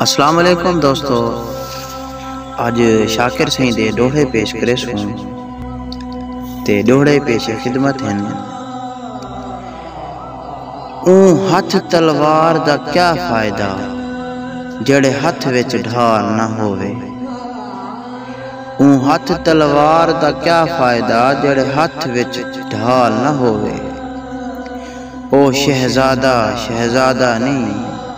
السلام علیکم دوستو اج شاکر سائیں دے ڈوہے پیش کرے سوں تے ڈوہڑے پیش خدمت ہیں اون ہتھ تلوار دا کیا فائدہ جڑے ہتھ وچ ڈھار نہ ہووے اون ہتھ تلوار دا کیا فائدہ جڑے ہتھ وچ ڈھال نہ ہووے او شہزادہ شہزادہ نئیں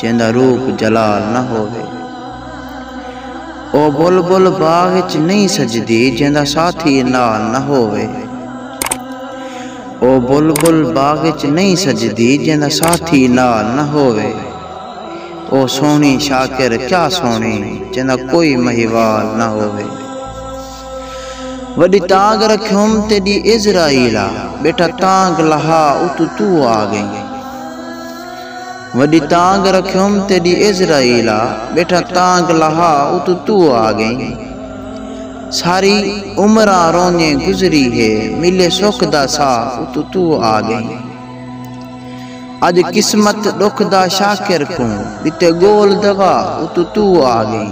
جیندا روپ جلال نہ ہووے۔ او بلبل باغ اچ نئیں سجدی جیندا ساتھی نال نہ ہووے۔ او بلبل باغ اچ نئیں سجدی جیندا ساتھی نال نہ ہووے۔ او سوہݨی شاکر کیا سوہݨی جیندا کوئی مہیوال نہ ہووے۔ وݙی تانگھ رکھیوم تیݙی عزرائیل آ ٻیٹا تانگھ لہا اتوں توں آ ڳئیں وݙی تانگھ رکھیوم تیݙی عزرائیل آ ٻیٹا تانگھ لہا اتوں توں آ ڳئیں ساری عمراں رونیں گزری ہے ملے سکھ دا ساہ اتوں توں آ ڳئیں اڄ قسمت ݙکھ دا شاکر کوں ݙتے ڳول دوا اتوں توں آ ڳئیں۔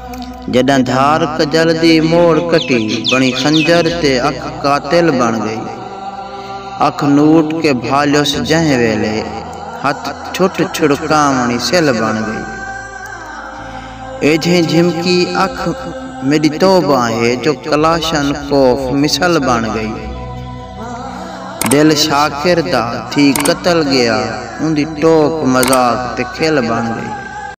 جݙاں دھار کڄل دی موڑ کٹی بݨی خنجر تے اکھ قاتل بݨ ڳئی اکھ نوٹ کے بھالیس جہیں ویلے ہتھ چھٹ چھڑکاوݨی سلھ بݨ ڳئی ایجھیں جھمکی اکھ میݙی توبہ ہے جو کلاشن کوف مثل بݨ ڳئی دل شاکر دا تھی قتل ڳیا اوندی ٹوک مذاق تے کھل بݨ ڳئی۔